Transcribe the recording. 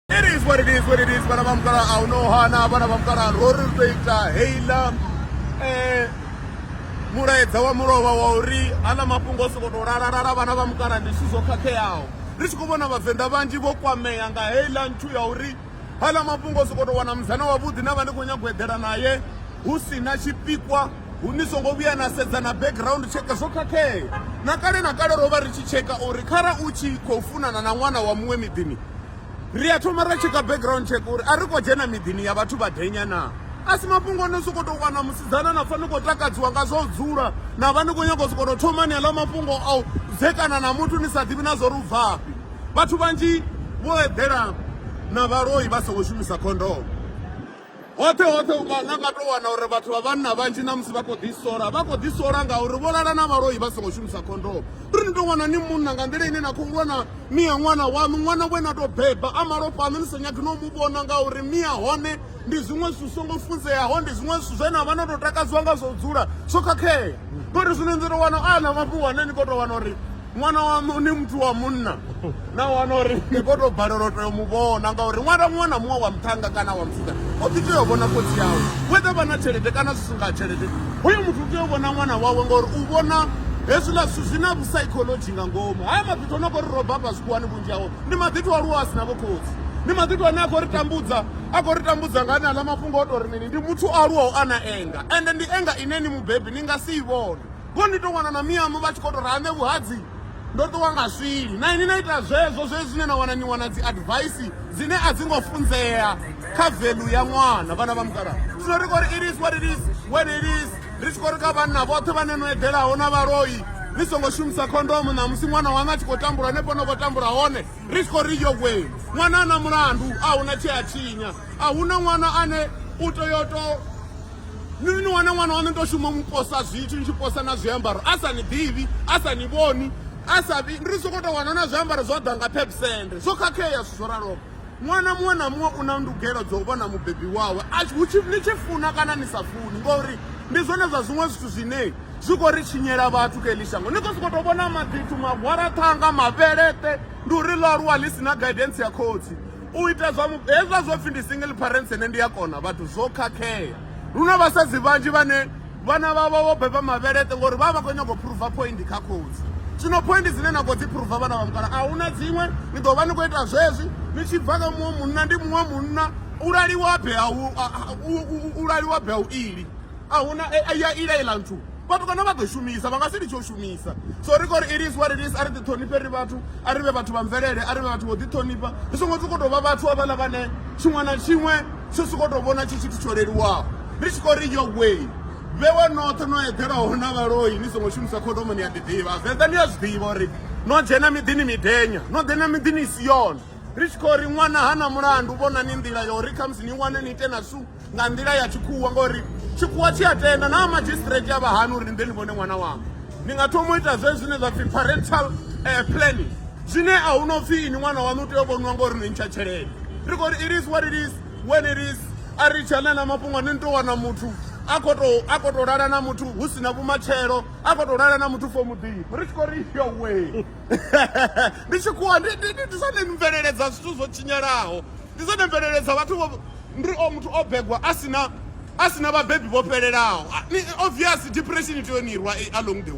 It is what it is, what it is. Vana va mukala a hu no hana vana va mukala ro ri ri ita heila eh mulaedza wa mulovha wa uri aḽa mafhungo o sokou tou lalalala vhana vha mukala ndi zwithu zwo khakheaho ri tshi khou vhona vhavenḓa vhanzhi vho kwamea nga heiḽa nthu ya uri aḽa mafhungo o sokou tou wana musana wavhuḓi na vha ndi khou nyago eḓela naye hu si na tshipikwa hu ni songo vhuya na sedza na background check zwo khakhea na kale na kale ro vha ri tshi tsheka uri khara u tshi khou funana na ṅwana wa muṅwe miḓini ri a thoma ra tsheka background check uri a ri khou dzhena miḓini ya vhathu vha denya naa a si mafhungo no sokou tou wana musidzana na pfha ni khou takadziwa nga zwa u dzula na vha ni khou nyanga u sokou tou thoma ni aḽa mafhungo a u dzekana na muthu ni sa ḓivhi na zwo ri u bvafhi vhathu vhanzhi vho eḓela na vhaloi vha songo shumisa khondomo Hoṱhe hoṱhe unga na nga tou wana uri vhathu vha vhanna vhanzhi na musi vha khou ḓi sola vha khou ḓi sola ngauri vho lala na vhaloi vha songo shumisa khondomo ri ni tou wana ni munna nga nḓila ine na khou lwa na mia ṅwana waṋu ṅwana we na tou beba a malofha aṋu ni sa nyagi no mu vhona ngauri mia hone ndi zwiṅwe zwithu songo funzeaho ndi zwiṅwe zwithu zwe na vha no tou takadziwa nga zwo dzula zwo khakhea ngori zwino ni tou wana a na mafhungo ane ni khou tou wana uri ṅwana waṋu ni muthu wa munna na wana uri ni kho to balelwa u tea u mu vhona ngauri ṅwana muṅwe na muṅwe wa muṱhanga kana wa mufuda o ḓi tea u vhona khotsi yawe wethe vha na tshelede kana zwi singa tshelede hoyo muthu u tea u vhona ṅwana wawe ngauri u vhona hezwiḽa zwithu zwi na vhusaikholodzhi nga ngomu haya maḓithu o no kho ri roba hafha zwikhuwani vhunzhi hawo ndi maḓithu a luwa a si na vhokhotsi ndi maḓithu ane a khou ri tambudza a khou ri tambudza nga ane aḽa mafhungo o to ri mini ndi muthu o aluwaho a na enga ende ndi enga ine ni mubebi ni nga si i vhone Ngoho ndi tou wana na miyaṋu vha tshi khou tou ri aṋe vhuhadzi ndo ṱuwa nga swili. Na ini na ita zwezwo zwe zwine na wana ni wana dzi advice dzine a dzi ngo funzea kha value ya ṅwana vhana vha mukalaha. Zwino ri khou ri it is what it is when it is ri tshi khou ri kha vhanna vhoṱhe vhane no eḓelaho na vhaloi ni songo shumisa khondomo ṋamusi ṅwana waṋu a tshi khou tambula hanefho no khou tambula hone ri tshi khou ri yo wee ṅwana a na mulandu a hu na tshea tshinya. a hu na ṅwana ane u tea u to ni ni wana ṅwana waṋu to shuma mu posa zwithu ni tshi posa na zwiambaro a sa ni ḓivhi a sa ni vhoni a sa vhi ri sokou tou wana na zwiambaro zwo ḓa nga pepsende zwo khakhea zwithu zwo raloho ṅwana muṅwe na muṅwe u na ndugelo dzo u vhona mubebi wawe ni tshi funa kana ni sa funi ngori ndi zwone zwa zwiṅwe zwithu zwine zwi khou ri tshinyela vhathu kha eḽi shango ni khou sokou tou vhona maḓithu magwaraṱhanga mavheleṱe ndi uri ḽo aluwa ḽi si na guidance ya khotsi u ita zwa mupo hezwa zwo pfhi ndi single parents ene ndi a kona vhathu zwo khakhea lu na vhasadzi vhanzhi vhane vhana vhavho vho beba mavheleṱe ngori vha vha khou nyanga u phuruva point kha khotsi zwino point dzine na khou dzi phuruva vhana vha mukala a hu na dziṅwe ni ḓo vha ni khou ita zwezwi ni tshi bva kha muṅwe munna ndi muṅwe munna u laliwa be u laliwa be u ili a hu na ya ila iḽa nthu vhatukana vha ḓo shumisa vha nga si litshe u shumisa so ri khou ri it is what it is a ri ḓiṱhonifhe ri vhathu a ri vhe vhathu vha mvelele a ri vhe vhathu vho ḓiṱhonifha ri songo sokou tou vha vhathu avhaḽa vhane tshiṅwe na tshiṅwe tsho sokou tou vhona tshi tshithu tsho leluwaho ri tshi khou ri yo way vhewe noṱhe no eḓelaho na vhaloi ni songo shumisa khodomo ni a ḓi ḓivha venḓa ni a zwi ḓivha uri no dzhena miḓini midenya no ḓena miḓini i si yone ri tshi khou ri ṅwana ha na mulandu vhonani nḓila ya uri khamusi ni wane ni ite na su nga nḓila ya tshikhuwa ngori tshikhuwa tshi a tenda na magistrate ya vha hani uri ni ḓe ni vhone ṅwana wanga ni nga thoma u ita zwe zwine zwa pfhi parental eh, planning zwine a hu no pfhi ini ṅwana waṋu u tea u vhoniwa ngori ni ntsha tshelede ri khou ri it is what it is when it is a ri tshana na mafhungo ni to wana muthu a khou to a khou to lala na muthu hu si na vhumatshelo a khou to lala na muthu fo muḓifho ri tshi khou ri yo we ndi tshikhuwa ndi ndi- ndi- ndi zwone mveleledza zwithu zwo tshinyalaho ndi zwone mveleledza vhathu vho Ndi o muthu o begwa a si na a si na vhabebi vho fhelelaho. Ni obvious depression ni tea u ni rwa along the way.